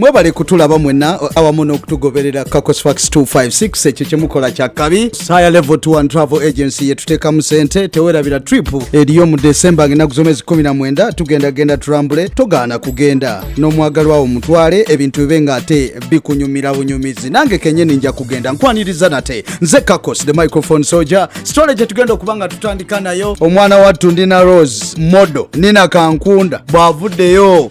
mwebale kutulaba mwena awamu n'okutugoberera cacosfax 256 ekyo kyemukola kya kabi saya level 2 and travel agency yetuteekamu sente tewerabira trip eriyo mu desemba ng'enaku z'omwezi 19 tugenda genda tulambule togaana kugenda n'omwagalwawo mutwale ebintu bibe ng'ate bikunyumira bunyumizi nange kenyini nja kugenda nkwaniriza nate nze cacos the microphone soldier sitole gye tugenda okuba nga tutandika nayo omwana wattu ndina rose modo nina kankunda bw'avuddeyo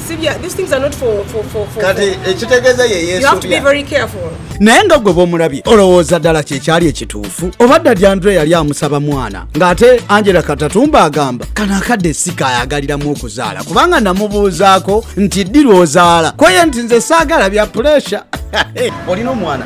kati ekitegeeza ye yesunaye nga gwe bwomulabye olowooza ddala kyekyali ekituufu oba dda dyandre yali amusaba mwana ng'ate angela katatumba agamba kano akadde sika ayagaliramu okuzaala kubanga namubuuzaako nti ddirwozaala kweye nti nze saagala bya puresha olina omwana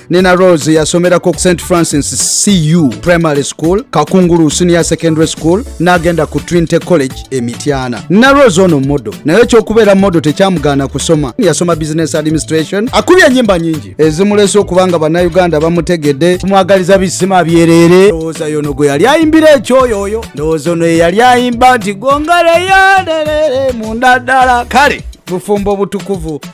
Nina Rose yasomerako St Francis CU Primary School, Kakungulu Senior Secondary School n'agenda ku Trinity College e Mityana. Nina Rose ono modo naye ekyokubeera modo tekyamugaana kusoma. Yasoma Business Administration. Akubye ennyimba nyingi ezimuleese okuba nga bannayuganda bamutegedde. Tumwagaliza bisima byereere. Ndowooza yono gwe yali ayimbira ekyoyo oyo. Ndowooza ono eyali ayimba nti gongereyo nderere munda ddala. Kale bufumbo butukuvu.